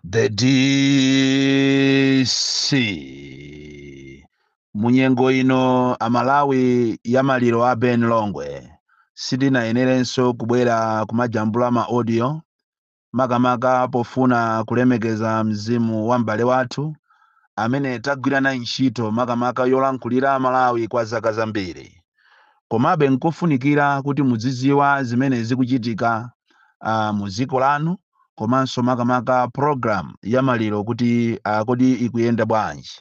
the dc munyengo ino amalawi ya maliro a ben longwe sitinayenerenso kubwera kumajambula ma audio makamaka pofuna kulemekeza mzimu wa m'bale wathu amene tagwira naye ntchito makamaka yolankhulira amalawi kwa zaka zambiri Komabe n'kofunikira kuti muzidziwa zimene zikuchitika a mudziko lanu komanso makamaka program ya maliro kuti a kodi ikuyenda bwanji.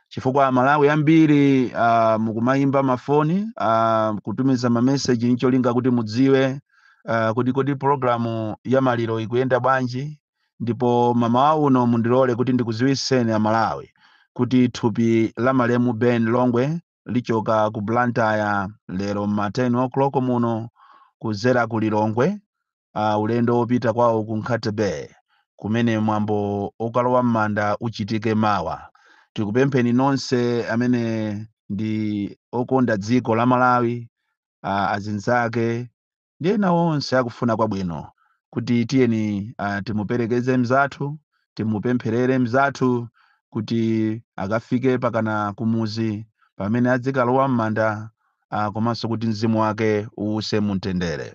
Chifukwa Amalawi ambiri a mukumayimba mafoni a kutumiza ma message n'cholinga kuti mudziwe a kuti kodi program ya maliro ikuyenda bwanji ndipo mamawa uno mundilole kuti ndikudziwitseni Amalawi kuti thupi la malemu Ben Longwe lichoka ku Blantyre lero ma 10 o'clock muno kudzera ku Lilongwe uh, ulendo wopita kwawo ku Nkhata Bay kumene mwambo wokalowa m'manda uchitike mawa. Tikupempheni nonse amene ndi okonda dziko la Malawi uh, azinzake ndi ena onse akufuna kwabwino kuti tiyeni uh, timuperekeze mzathu timupempherere mzathu kuti akafike pakana kumuzi pamene adzikalowa m'manda uh, komanso kuti mzimu wake uuse mumtendere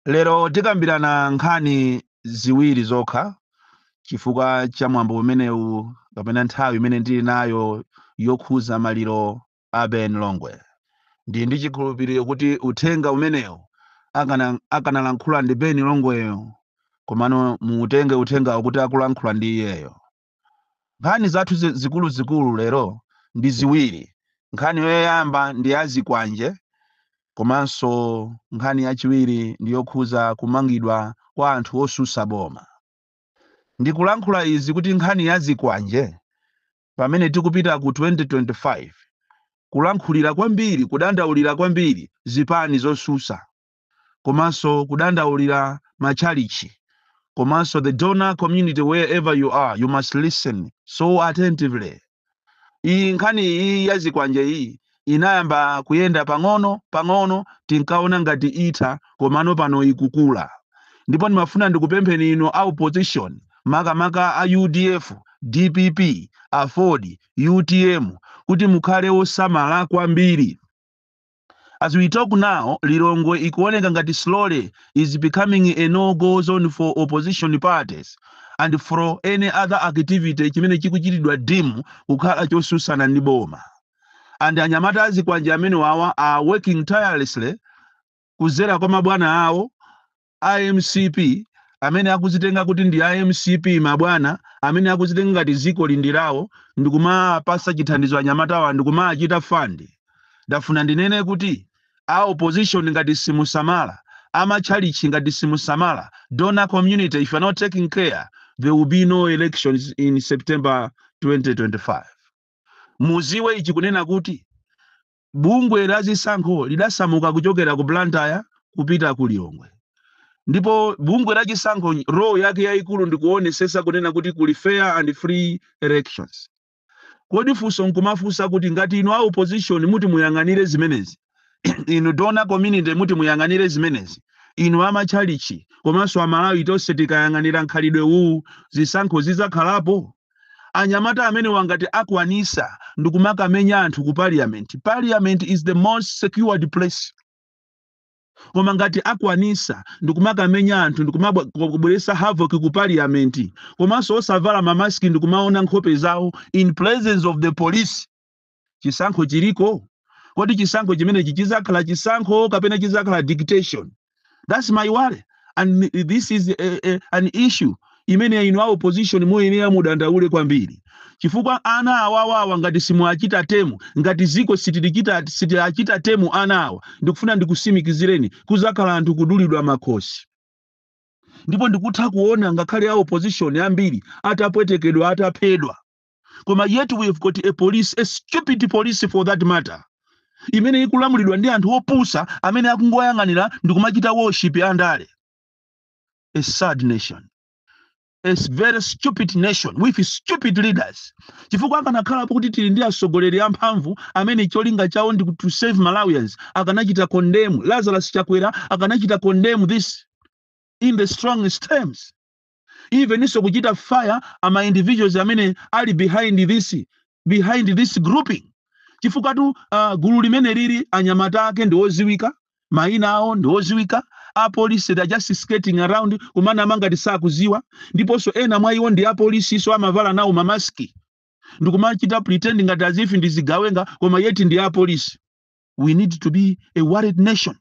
lero tikambirana nkhani ziwiri zokha chifukwa cha mwambo umenewu kapena nthawi imene ndili nayo yokhuza maliro a Ben Longwe. Ndili ndi chikhulupiriro kuti uthenga umenewu akanalankhula ndi Ben Longweyo komano muutenge uthengawo kuti akulankhula ndi iyeyo. Nkhani zathu zi- zikuluzikulu lero ndi ziwiri. Nkhani yoyamba ndi ya zikwanje komanso nkhani yachiwiri ndi yokhuza kumangidwa kwa anthu osusa boma. Ndikulankhula izi kuti nkhani ya zikwanje pamene tikupita ku 2025 kulankhulira kwambiri, kudandaulira kwambiri zipani zosusa komanso kudandaulira matchalitchi komanso the donor community wherever you are you must listen so attentively iyi nkhani iyi ya zikwanje iyi inayamba kuyenda pang'ono, pang'ono, tinkaona ngati itha, komano pano ikukula. Ndipo ndimafuna ndikupempheni inu a opposition, makamaka a udf, dpp, aford, utm, kuti mukhale osamala kwambiri. As we talk now, Lilongwe ikuoneka ngati slowly is becoming a no go zone for opposition parties and for any other activity chimene chikuchitidwa deem kukhala chosusana ndi boma. and anyamata azikwanje amenewawa are working tirelessly kudzera kwa mabwana awo a mcp amene akuzitenga kuti ndi a mcp mabwana amene akuzitenga ngati dziko ili ndi lawo ndikumawapasa chithandizo anyamatawa ndikumawachita fund ndafuna ndinene kuti a opposition ngati simusamala amatchalichi ngati simusamala donor community if you are not taking care there will be no elections in september 2025 Muziwe ichi kunena kuti bungwe la zisankho lidasamuka kuchokera ku Blantyre kupita ku Lilongwe ndipo bungwe la chisankho role yake yaikulu ndi kuonesesa kunena kuti kuli fair and free elections. Kodi funso nkumafunsa kuti ngati inu a opposition muti muyang'anire zimenezi, inu donor community muti muyang'anire zimenezi, inu amatchalitchi komanso a Malawi tonse tikayang'anira mkhalidwe uwu zisankho zidzakhalapo? Anyamata amenewa ngati akwanisa ndikumakamenya anthu ku parliament, parliament is the most secured place. Koma ngati akwanisa ndikumakamenya anthu ndikumabweresa havoc ku parliament komanso osavala ma mask ndikumaona nkhope zawo in presence of the police, chisankho chiliko kodi chisankho chimenechi chizakhala chisankho kapena chizakhala dictation that's my worry and m- this is a, a, an issue imene inu a opposition muyenera mudandaule kwambiri chifukwa ana awawawa ngati simuwachita tame ngati ziko sitilichita sitiwachita tame ana awa ndikufuna ndikusimikizireni kuzakhala anthu kudulidwa makhosi ndipo ndikutha kuona ngakhale a opposition ambiri atapwetekedwa ataphedwa koma yet we have got a police a stupid police for that matter imene ikulamulidwa ndi anthu opusa amene akungoyang'anira ndi kumachita worship andale a sad nation a very stupid nation with stupid leaders chifukwa akanakhala pokuti tili ndi atsogoleri amphamvu amene cholinga chawo ndi to serve malawians akanachita condemn lazarus chakwera akanachita condemn this in the strongest terms eveninso kuchita fire ama individuals amene ali behind this behind this grouping chifukwatu uh, gulu limeneli anyamata ake ndi oziwika mayina awo ndi oziwika apolisi they are just skating around kumanama ngati sakuziwa ndiponso ena mwa iwo ndi apolisi so amavala nawo mamaski ndikumachita pretend ngati as if ndi zigawenga koma yet ndi apolisi we need to be a worried nation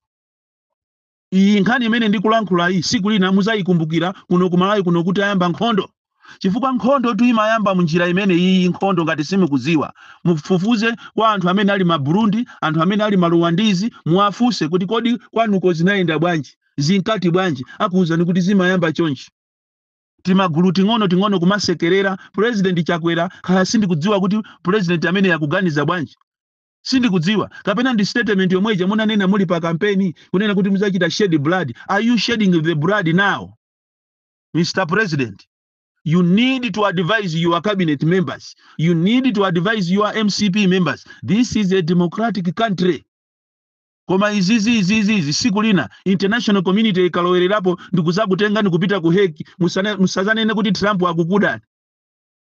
Iyi nkhani imene ndikulankhulayi siku lina muzayikumbukira kuno ku Malawi kuno kuti ayamba nkhondo chifukwa nkhondo tu imayamba munjira imene iyi nkhondo ngati simukuziwa mufufuze kwa anthu amene ali ma Burundi anthu amene ali ma Rwandizi muwafunse kuti kodi kwanuko zinayenda bwanji zinkati bwanji akuwuzani kuti zimayamba chonchi timagulu ting'ono ting'ono kumasekerera president Chakwera kaya sindikudziwa kuti president ameneyu akuganiza bwanji Sindikudziwa, kapena ndi statement yomwe ija munanena muli pa campaign kunena kuti mudzachita shed blood, are you shedding the blood now? Mr president, you need to advise your cabinet members, you need to advise your mcp members, this is a democratic country. Koma izizi izizi izi siku lina international community ikalowererapo ndikuzakutengani kupita ku Hague musazanene kuti Trump akukudani.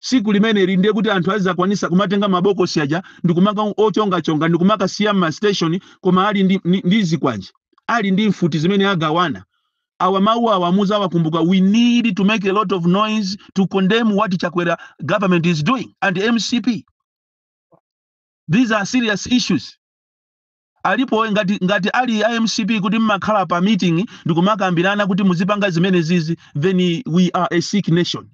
Tsiku limeneli ndiye kuti anthu azidzakwanitsa kumatenga mabokosi aja ndi kumakawochongachonga ndi kumakasiya m'masiteshoni koma ali ndi, ndi, ndi zikwanje ali ndi mfuti zimene agawana awa mawu awa muzawakumbuka we need to make a lot of noise to condemn what chakwera government is doing and mcp these are serious issues alipo ngati ngati ali a mcp kuti mmakhala pa meeting ndikumakambirana kuti muzipanga zimene zizi then we are a sick nation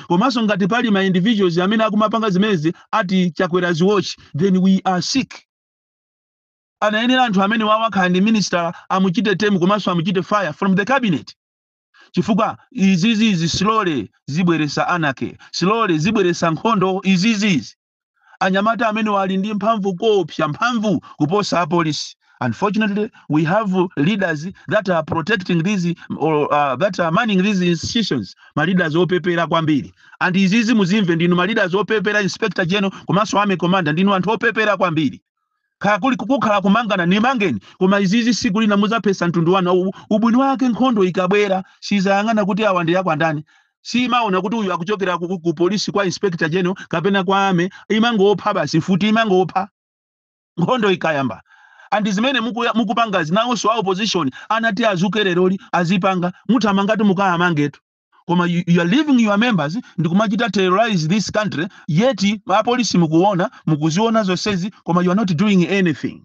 komanso ngati pali ma individuals amene akumapanga zimenezi at chakwera's watch then we are sick anayenera anthu amenewa akhala ndi minister amuchite tame komanso amuchite fire from the cabinet chifukwa izizizi slowly zibweresa anarchy slowly zibweresa nkhondo izizizi Anyamata amenewa ali ndi mphamvu koopsa, mphamvu kuposa apolisi. Unfortunately, we have leaders that are protecting these or uh, that are manning these institutions, ma leaders opepera kwambiri. And izizi muzimve ndinu ma leaders opepera, Inspector General komanso Army Commander ndinu anthu opepera kwambiri. kaya kuli kukhala kumangana nimangeni koma izizi siku lina muzaphesa mtundu wanu Au- ubwino wake nkhondo ikabwera sizayang'ana kuti awa ndi akwandani siimaona kuti uyu akuchokera ku, ku polisi kwa inspector general kapena kwa army imangopha basi futi imangopha nkhondo ikayamba and zimene mukuya- mukupangazi nawonso a opposition anati azuke leroli azipanga muthamangati mukayamangetu koma you are leaving your members ndikumachita terrorize this country yet apolisi mukuona mukuziona zonsezi koma you are not doing anything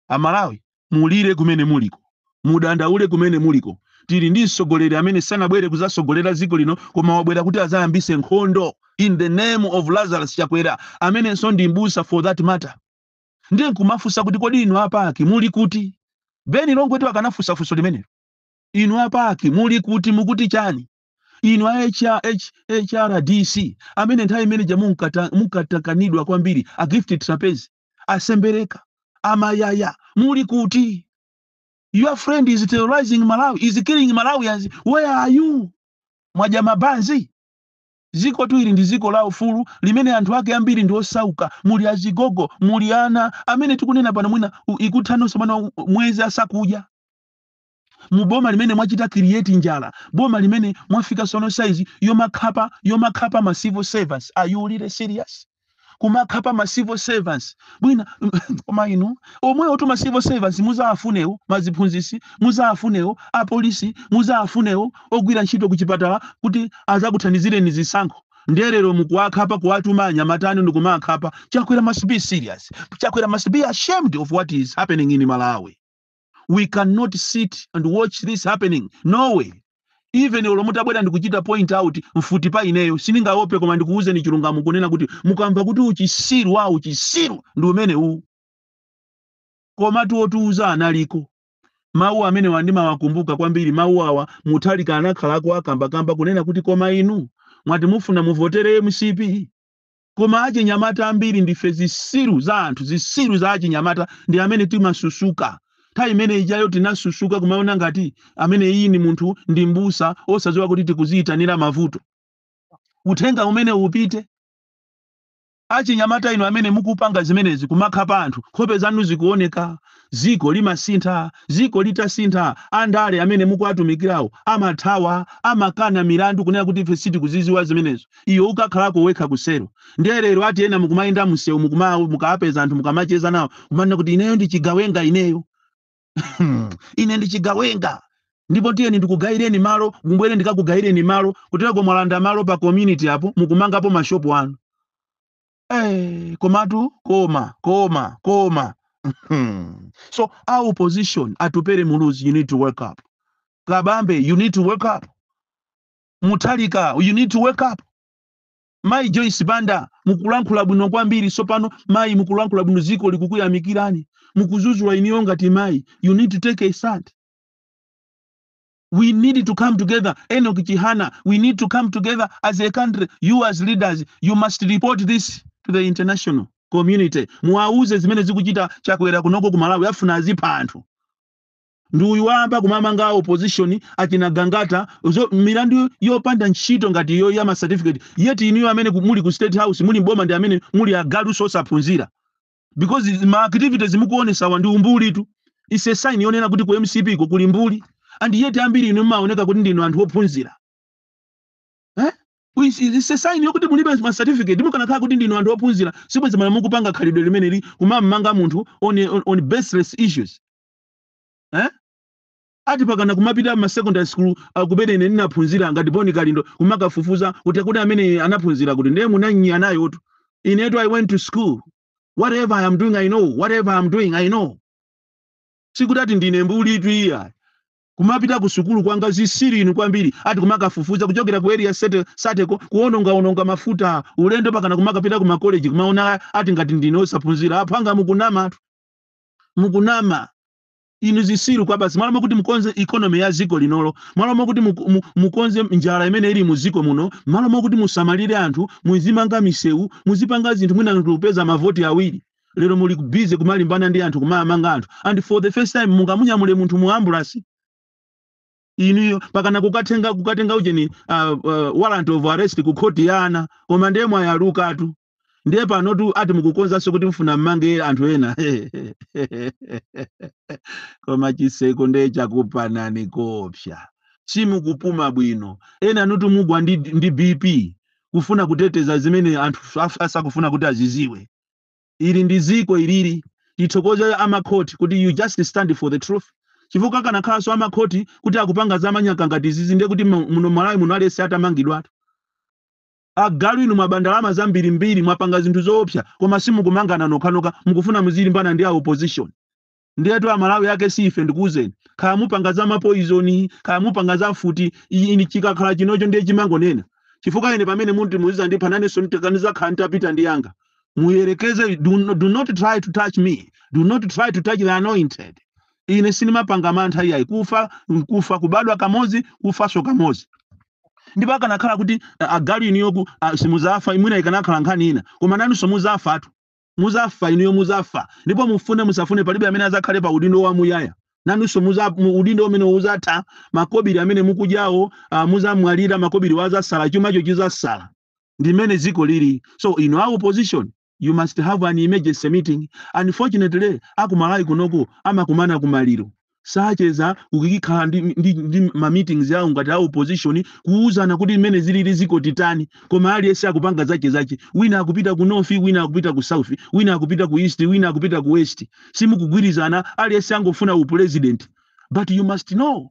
amalawi mulire kumene muliko mudandaule kumene muliko tili ndi mtsogoleri amene sanabwere kuzasogolera dziko lino koma wabwera kuti azayambise nkhondo in the name of lazarus chakwera amenenso ndi mbusa for that matter ndiye nkumafunsa kuti kodi inu a PAC muli kuti ben longwetu akanafunsa funso limenelo Inu a PAC muli kuti? Mukuti chani? Inu a HRDC amene nthawi imene ija munkatakanidwa kwambiri, a Gift Trapence, a Sembereka, a Mayaya muli kuti? Your friend is terrorizing Malawi, is killing Malawians. Where are you? Mwadya mabanzi? Dziko tu ili ndi dziko la ufulu limene anthu ake ambiri ndi osauka, muli azigogo, muli ana amene tikunena pano mwina u- ikutha sabata mwezi asakudya. mu boma limene mwachita create njala boma limene mwafika sono size yomakhapa yomakhapa ma civil servants are you really serious kumakhapa ma civil servants bwinja koma inu omwe otuma civil servants muzawafunewo maziphunzisi muzawafunewo apolisi muzawafunewo ogwira ntchito ku chipatala kuti azakuthandizireni zisankho nde lero mukuwakhapa kuwatuma anyamata anu ndikumakhapa chakwera must be serious chakwera must be ashamed of what is happening in malawi we cannot sit and watch this happening no way even olo mutabwera ndikuchita point out mfuti pa ineyo sindingaope koma ndikuwuzeni chilungamo kunena kuti mukamva kuti uchisiru wa uchisiru ndi umene uwu koma otiwuza analiko mawu amenewa ndimawakumbuka kwambiri mawu a wa mutharika anakhalako akambakamba kunena kuti koma inu mwati mufuna muvotere mcp Koma achinyamata ambiri ndife zisiru za anthu, zisiru za achinyamata ndi amene timasusuka. Nthawi imene ijayo tinasusuka kumaona ngati ameneyi ni munthu ndi mbusa osaziwa kuti tikuziyitanira mavuto. Uthenga umenewu upite. Achinyamata inu amene mukupanga zimenezi kumakhapa anthu, nkhope zanu zikuoneka. Dziko limasintha. Dziko litasintha, andale amene mukuwatumikirawo amathawa, amakana milandu kunena kuti ife sitikuzidziwa zimenezo. Iwe ukakhalako wekha ku cell. Ndiye lero ati ena mukumayenda mumsewu mukuma mukawapeza anthu mukamacheza nawo kumanena kuti ineyo ndi chigawenga ineyo. Ine ndi chigawenga. Ndipo tiyeni ndikugayireni malo, mubwere ndikakugayireni malo. Kutereko mwalanda malo pa community apo mukumangapo mashopu anu. Hey, komatu koma koma koma Hmm. so our opposition atupere muluzi you need to wake up kabambe you need to wake up mutharika you need to wake up mayi joyce banda mukulankhula bwino kwambiri sopano mayi mukulankhula bwino ziko likukuyamikirani mukuzuzula inuyo ngati mayi you need to take a stand We need to come together. Enoch Chihana, we need to come together as a country. You as leaders, you must report this to the international community. Muwauze zimene akuchita chakwera kunoko ku Malawi afuna azipha anthu. Ndi uyu wayamba kumamanga a opposition achina Gangata milandu yopanda ntchito ngati iyo ya ma certificate yet inuyo amene ku- muli ku state house muli m'boma ndi amene muli agalu osaphunzira. because izi- ma activities mukuonesawa ndi umbuli tu it's a sign yonena kuti ku mcp ko kuli mbuli and yet ambiri inu mmaoneka kuti ndinu anthu ophunzira eh? It's it's a sign yokuti mulibe ma certificate mukanakhala kuti ndinu anthu ophunzira sibwezi mala mukupanga khalidwe limeneli kumammanga munthu on, on, on baseless issues eh? Ati pakana kumapita ma secondary school uh, kumene ine ndinaphunzira ngati Bon Kalindo kumakafufuza kuti akuti amene anaphunzira kuti ndiye munanya nayotu. Inetu I went to school. Whatever I am doing I know. Whatever I am doing I know. Sikuti ati ndine mbuli tu iya. Kumapita ku sukulu kwanga zisiru inu kwambiri ati kumakafufuza kuchokera ku area thirty thirty ko kuononga ononga mafuta ulendo pakana kumakapita ku makoleji kumaona ati ngati ndine osaphunzira aphwanga mukunama mukunama inu zisiru kwabasi mwalo mokuti mukonze economy ya ziko linolo mwalo mokuti mu, mu, mukonze njala imene ili mu ziko muno mwalo mokuti musamalire anthu muzimanga misewu muzipanga zinthu mwina anthu kupeza mavoti awiri lero muli busy kumalimbana ndi anthu kumawamanga anthu and for the first time mungamunyamule munthu mu ambulance inuyo pakana kukatenga kukatenga ujeni uh, uh, warrant of arrest ku khoti ya ana koma ndiye mwayalukatu ndiye panotu ati mukukonzanso kuti mfuna mmange anthu ena koma chiseko ndiye chakupanani koopsa simukupuma bwino enanutu mugwa ndi, ndi bp kufuna kuteteza zimene anthu af- asakufuna kuti aziziwe ili ndi ziko ilili tithokoze amakhoti kuti you just stand for the truth chifukwa akanakhalanso amakhoti kuti akupanga zamanyaka ngati izizi ndiye kuti mu- muno malawi muno aliyense atamangidwatu Agalu inu mwaba ndalama zambirimbiri mwapanga zinthu zoopsa koma simukumangana nokhanokha mukufuna muzilimbana ndi a opposition ndiyetu amalawi ake si ife ndikuuzeni kaya mupanga za mapoizoni kaya mupanga za mfuti i- ine chikakhala chinocho ndiye chimangonena chifukwa ine pamene muti muzizandipha nanenso ndikanizakhala nditapita ndi yanga muyerekeze do, no- do not try to touch me do not try to touch the anointed ine sinimapanga mantha iyayi kufa nkufa kubadwa kamodzi kufanso kamodzi ndipo akanakhala kuti a- agalu inuyo ku- a- simuzafa mwina ikanakhala nkhani ina koma nanunso muzafatu muzafa inuyo muzafa ndipo mufune musafune palibe amene azakhale pa udindo wa muyaya nanunso muza- mu- udindo umene uzatha makobiri amene mukudyawo ah, muzamwalira makobiriwo azasala chumacho chizasala ndi mmene dziko lili so inu a opposition you must have an emergency meeting unfortunately akumalawi kunoku amakumana kumaliro sacheza kukhala ndi, ndi, ndi ma meetings awo ngati a opposition kuuzana kuti mmene zilili ziko titani koma aliyense akupanga zache zache wina akupita ku north wina akupita ku south wina akupita ku east wina akupita ku west simukugwirizana aliyense angofuna u president but you must know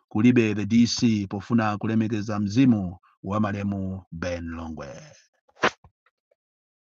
kulibe the DC pofuna kulemekeza mzimu wa malemu Ben Longwe.